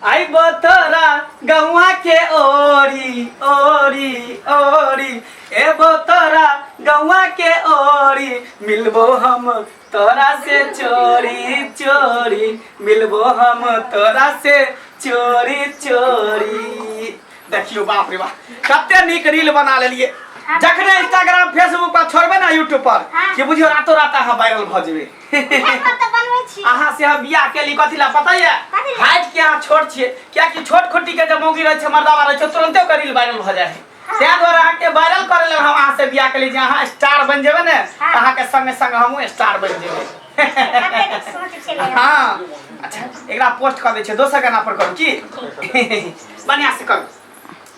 आई बतरा गौआ के ओरी ओरी ओरी ए बतरा गौआ के ओरी मिलबो हम तोरा से चोरी चोरी मिलबो हम तोरा से चोरी चोरी देखियो बाप रे बाप कते नीक रील बना लेलिए जखने इंस्टाग्राम फेसबुक पर छोड़बे ना यूट्यूब पर कि बुझियो रातो रात अहाँ वायरल भऽ जेबै हमरा तऽ बनबै छी अहाँ से हम बियाह केली कथी ला पता ये कथी ला? हाइट के अहाँ छोट छियै कियाकि छोट खुट्टी के जे मौगी रहै छै मर्दावा रहै छै तुरंते ओकर रील वायरल भऽ जाइ छै ताहि दुआरे अहाँके वायरल करे लेल हम अहाँ से बियाह केली जे अहाँ स्टार बनि जेबै ने तऽ अहाँके संगे संग हमहूँ स्टार बनि जेबै कते नीक सोच छलै हाँ अच्छा एकरा पोस्ट कर दै छै दोसर गाना पर करू की बढ़िया से करू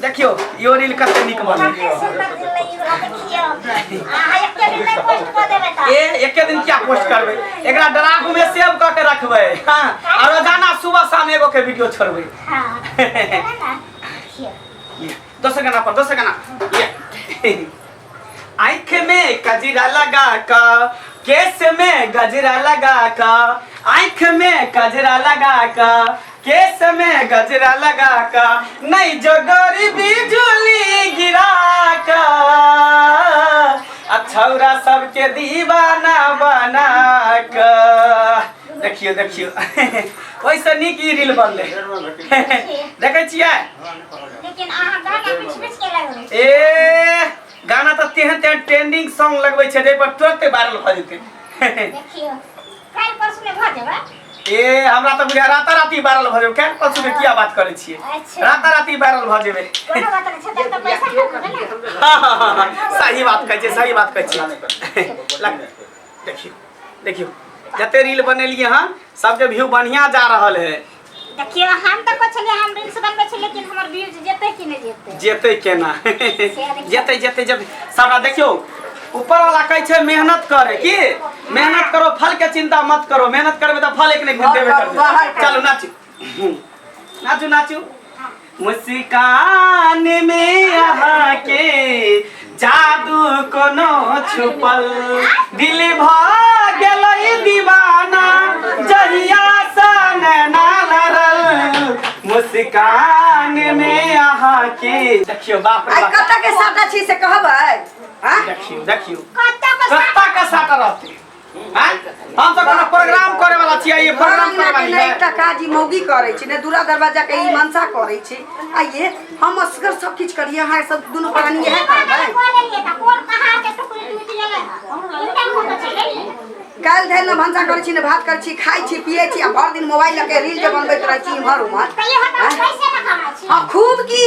देखियो यो रील कते निक बने ए एके दिन क्या पोस्ट करबे एकरा ड्राफ्ट में सेव क के रखबे हां और रोजाना सुबह शाम एगो के वीडियो छोड़बे हां दोसर गाना पर दोसर गाना ये आंख में कजरा लगा का केस में गजरा लगा का आंख में कजरा लगा का केस में गजरा लगा का नहीं जो गरीबी झूली गिरा का अछौरा सबके दीवाना बना का देखियो देखियो ओइसे नीक ई रील बनले देखे छियै लेकिन अहाँ गाना बीच बीच के लगबै छी। ए गाना तऽ तेहन तेहन ट्रेंडिंग सॉन्ग लगबै छै जाहि पर तुरंते वायरल भऽ जेतै देखियो काल्हि परसू में भऽ जेबै ए हमरा तऽ बुझा राता राती वायरल भऽ जेबै काल्हि परसू के किया बात करै छियै अच्छा। राता राती वायरल भऽ जेबै कोनो बात नहि छै तब तऽ पैसा खर्च भेलै ने हाँ, हाँ, हाँ, हाँ, सही बात कहै छियै सही बात कहै छियै लग- देखियौ देखियौ जते रील बनेलियै हँ सबके व्यू बढ़िया जा रहल है देखियो हम त कहै छलियै हम रील्स बनबै छी लेकिन हमर व्यूज जेतै कि नै जेतै जेतै केना जेतै जेतै जेतै सबरा देखियो ऊपर वाला कहै छै मेहनत करे की मेहनत करो फल के चिंता मत करो मेहनत करबे त फल एक नै घुम देबे करबे चलू नाचू नाचू नाचू मुस्कान में यहाँ के जादू कोनो छुपल दिल भ गेलै दीवाना जहिया सा नैना लड़ल मुस्कान में यहाँ के देखियो बाप रे आई बाप कत्ता के साटा छी से कहबै हाँ देखियो देखियो कत्ता के साटा रहते आँय? हम सब कोनो प्रोग्राम करे वाला छियै ये प्रोग्राम करे वाली है एकटा काज ई मौगी करै छी ने दूरा दरवाजा के ई मनसा करै छी आ ये हम असगर सब किछ करिए अहाँ सब दुनू प्राणी इएह करबै काल्हि धरि ने भनसा करै छी ने भात करै छी खाइ छी पियै छी आ भरि दिन मोबाइल लऽ के रील जे बनबैत रहै छी इम्हर उम्हर आँय? हँ खूब की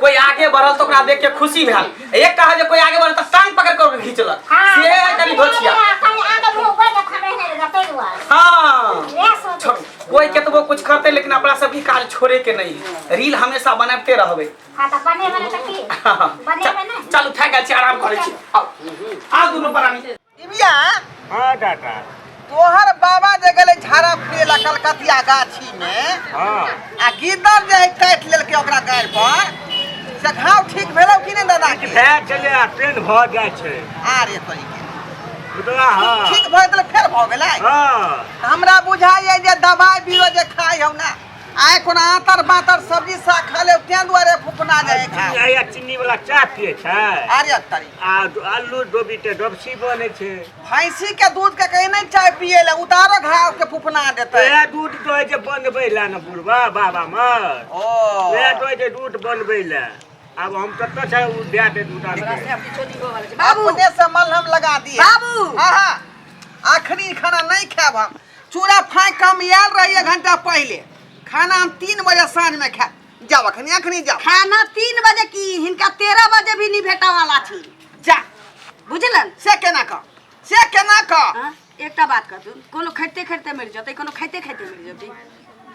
कोई आगे बढ़ल तो ओकरा देख के खुशी भेल एक कहल जे कोई आगे बढ़ल तो टांग पकड़ के ओकरा खींचलक से है कनी भोछिया हाँ छोड़ कोई केतबो कुछ करते लेकिन अपना सबके काज छोड़े के नहीं है। रील हमेशा बनाते रहबे चल उठा गेल छी आराम करै छी आउ आउ दुनू प्राणी दिव्या हाँ टाटा तोहर बाबा जे गेले झाड़ा फिरे ला कलकतिया गाछी में हाँ आ गीदड़ जे है काट लेलके ओकरा गाड़ पर से घाव ठीक भेलौ कि नहीं दादा के भए चले आ ट्रेन भऽ जाइ छै आरे तोरी के बुझला हाँ ठीक भए गेलै फेर भऽ गेलै हाँ हमरा बुझाइए जे दवाई बीरो जे खाइ हौ ना आइ कोना आतर बातर सब्जी साग खा लेब तें दुआरे फुफना जाइ छै घाव। आया चीनी वाला चाय पिए छै अरे तरी आ दो- आलू डोबी के डोबसी बने छै भैंसी के दूध के कहीं नहीं चाय पिए ले उतारो घाव के फुफना देते वएह दूध दो जे बनबै लए ने बुढ़वा बाबा मर ओ वएह दो जे दूध बनबै लए आब हम कतऽ छै ओ दए दे दूध आनबै अपने से मलहम लगा दिए बाबू आहा अखनी खाना नहीं खाएब हम चूड़ा फाँकि कऽ हम आयल रही एक घंटा पहिले खाना हम तीन बजे साँझमे खायब जाओ अखनी अखनी जाओ खाना तीन बजे की हिनका तेरह बजे भी नहीं भेटा वाला छी जा बुझलन से केना कह से केना कह हाँ? एकटा बात कर तू कोनो खैते खैते मरि जतै कोनो खैते खैते मरि जतै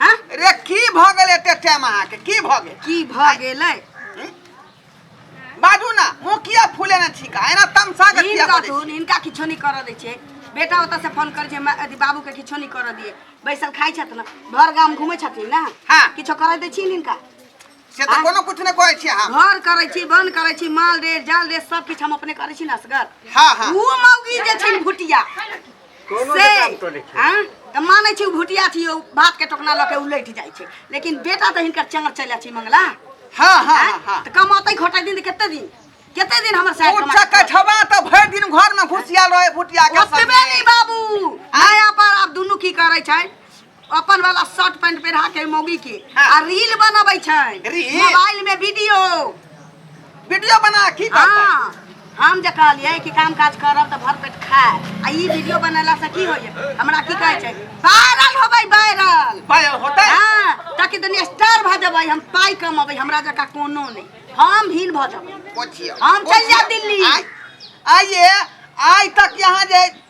हाँ रे की भऽ गेल एते टाइम अहाँके की भऽ गेल की भऽ गेलै बाजू ना मुंह किया फूले ना छिका एना तमसा के किया हिनका बोले धुन हिनका किछो नहीं कर दै छै बेटा ओतऽ से फोन कर छै मा- अथी बाबू के किछो नहीं कर दिए बैसल खाइ छथि ना घर गाम घुमै छथिन ना हाँ। किछो कर दै छी हिनका से तो कोनो कुछ ने कहै छी हम घर करै छी बन करै छी माल रे जाल रे सब किछु हम अपने करै छी ना असगर हां हां ऊ मौगी जे छै भुटिया कोनो से काम तो नहीं छै। हाँ, तऽ मानै छी ओ भुटिया छी ओ भातके टोकना लऽ के उलटि जाइ छै लेकिन बेटा तऽ हिनकर चंगर चलि जाइ छै मंगला हाँ हाँ हाँ हाँ हाँ तऽ कमातै घोटै दिन तऽ कते दिन कते दिन हमर साइड उच्च कठवा तऽ भरि दिन घरमे घुसियाल रहै भुटिया के ओतबे संगे। नहि बाबू आया पर आब दुनू की करै छै अपन वाला शर्ट पैंट पहिरा के मौगी के हाँ। आ रील बनबै छै रील? मोबाइल में वीडियो वीडियो बना की करतै हाँ हम जे कहलियै कि काम काज करब तऽ भर पेट खाय आ ई वीडियो बनेला से की होइए हमरा की कहै छै वायरल होबै वायरल भाय होतै हाँ ताकि दुनिया स्टार भऽ जेबै हम पाइ कमबै हमरा जकाँ कोनो नहि हम भीन भऽ जेबै पोछियो हम चल जा दिल्ली। आइ आइए आइ तक यहाँ जे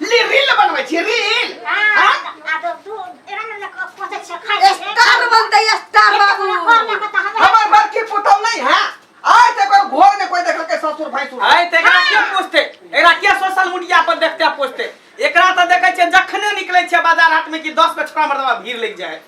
ले रील बनबै छी रील हाँ? स्टार बनतै स्टार बाबू हमर बड़की पुतौ नहीं है आय ते कोई घर में कोई देखल के ससुर भाई सुर आय ते एकरा के पोस्टे एकरा के सोशल मीडिया पर देखते पोस्टे एकरा त देखे छै जखने निकले छै बाजार हाट में कि 10 के छोरा मर्दवा भीड़ लग जाए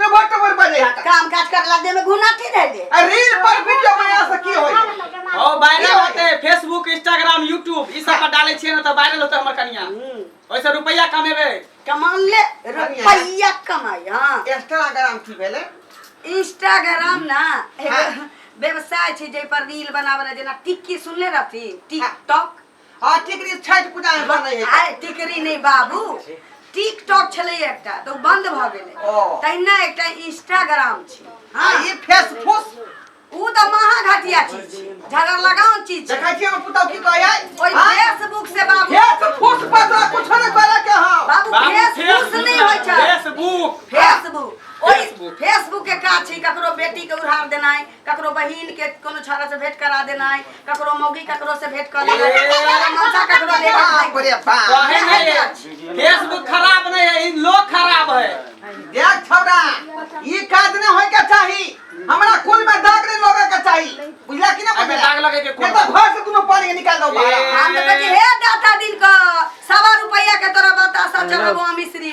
टबर टबर बजे हाथ काम काज कर ला दे में घुना थी रह ले आ रील पर वीडियो बना से की होई ओ वायरल होते फेसबुक इंस्टाग्राम यूट्यूब ई सब पर डाले छिए ना त वायरल होते हमर कनिया ओइसे रुपया कमेबे कमा ले रुपया कमाई हां इंस्टाग्राम की भेले इंस्टाग्राम ना एगो हाँ। व्यवसाय छै जे पर रील बनावे जेना टिक्की सुनले रहती टिकटॉक हाँ टिकरी छठ पूजा में बनै है आय टिकरी नहीं बाबू टिकटॉक छले एकटा तो बंद भ गेले ओ। तहिना एकटा इंस्टाग्राम छी हाँ हाँ ये फेस फूस ऊ तो महाघटिया चीज छी झगड़ लगाउन चीज छी देखै छियै हम पुतौ की कहै है ओइ हाँ? फेसबुक से बाबू फेस फूस पर तोरा कुछो नहि करे के हौ बाबू बाबू फेसबुक से नहीं होय छै फेसबुक फेसबुक ओइ फेसबुक। फेसबुक के काज छै ककरो बेटी के उधार देनाइ ककरो बहिन के कोनो छौड़ा से भेंट करा देनाइ ककरो मौगी ककरो से भेंट कऽ लेनाइ ककरो मनसा ककरो ले बाप रे बाप कहे नहीं है फेसबुक खराब नहीं है इन लोग खराब है देख छौड़ा ई काज न होय के चाही हमरा कुल में दाग नहीं लगे के चाही बुझला कि ना एमे बुझला दाग लगे के कुल नहीं तो में। घर से तुम पानी निकाल दो बाहर ए, हम तो कहै छी, हे दाता दिन क सवा रुपैया के तोरा बतासा चढ़बो मिश्री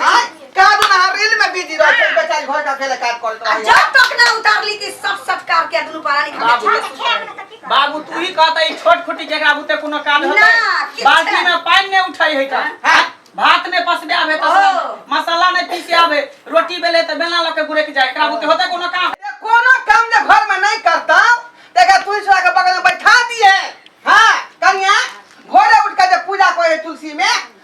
हां का बना रील में बिजी रह छै बेचारी घर का अकेले काट करत आ रह जब तक ना उतारली कि सब सत्कार के दुनु परानी खा बाबू। के छोड़ खेल में तो की कर बाबू तू ही कहता ई छोट खुटी जेकरा बुते कोनो काज ना, होता किछु बाल्टी नहीं। में पानी नहीं उठाई है का हाँ। भात ने पसबे आवे तो ओ। मसाला ने पीसे आवे रोटी बेले तो बेला लके गुरे के जाए एकरा बुते होता कोनो काम ये कोनो काम जे घर में नहीं करता तेका तुलसी के बगल में बैठा दिए हां कन्या भोरे उठ के जे पूजा करे तुलसी में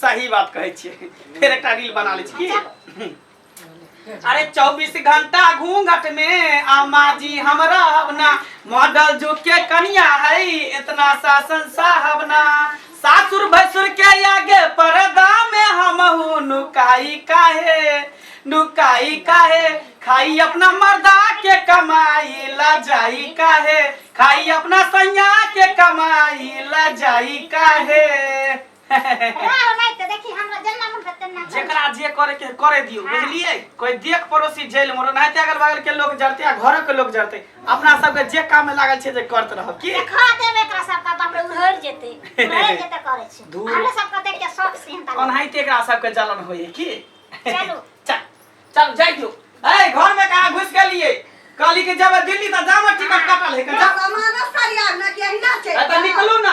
सही बात कहै छियै फेर एकटा रील बना लै छी की अरे 24 घंटा घूंघट में आमा जी हमरा अपना मॉडल जो के कनिया है इतना शासन साहब ना सासुर भसुर के आगे पर्दा में हम हूँ नुकाई काहे नुकाई काहे खाई अपना मर्दा के कमाई ला जाई काहे खाई अपना सैया के कमाई ला जाई काहे जेकरा जे करे के करे दियो हाँ। बुझलिए कोई देख पड़ोसी जेल में नहीं ते अगल बगल के लोग जरते आ घर के लोग जरते अपना सब के जे काम में लागल छे जे करत रहो की खा दे में एकरा सब का बाप रे उड़हर जेते उड़हर जेते करे छे दूर हमरा सब का देख के शौक से हता कोन हाई ते एकरा सब के जलन होई की चलो चल चल जाई दियो ए घर में कहां घुस गेलिए काली के जब दिल्ली त जामा टिकट कटल है का हमारा सरिया ना के हिला छे त निकलू ना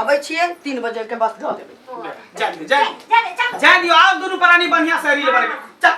अबै छियै तीन बजे के बस धऽ देबै जा दियौ, जा दियौ। जा दियौ, आउ दुनू प्राणी बढ़िया से रील बनेबै।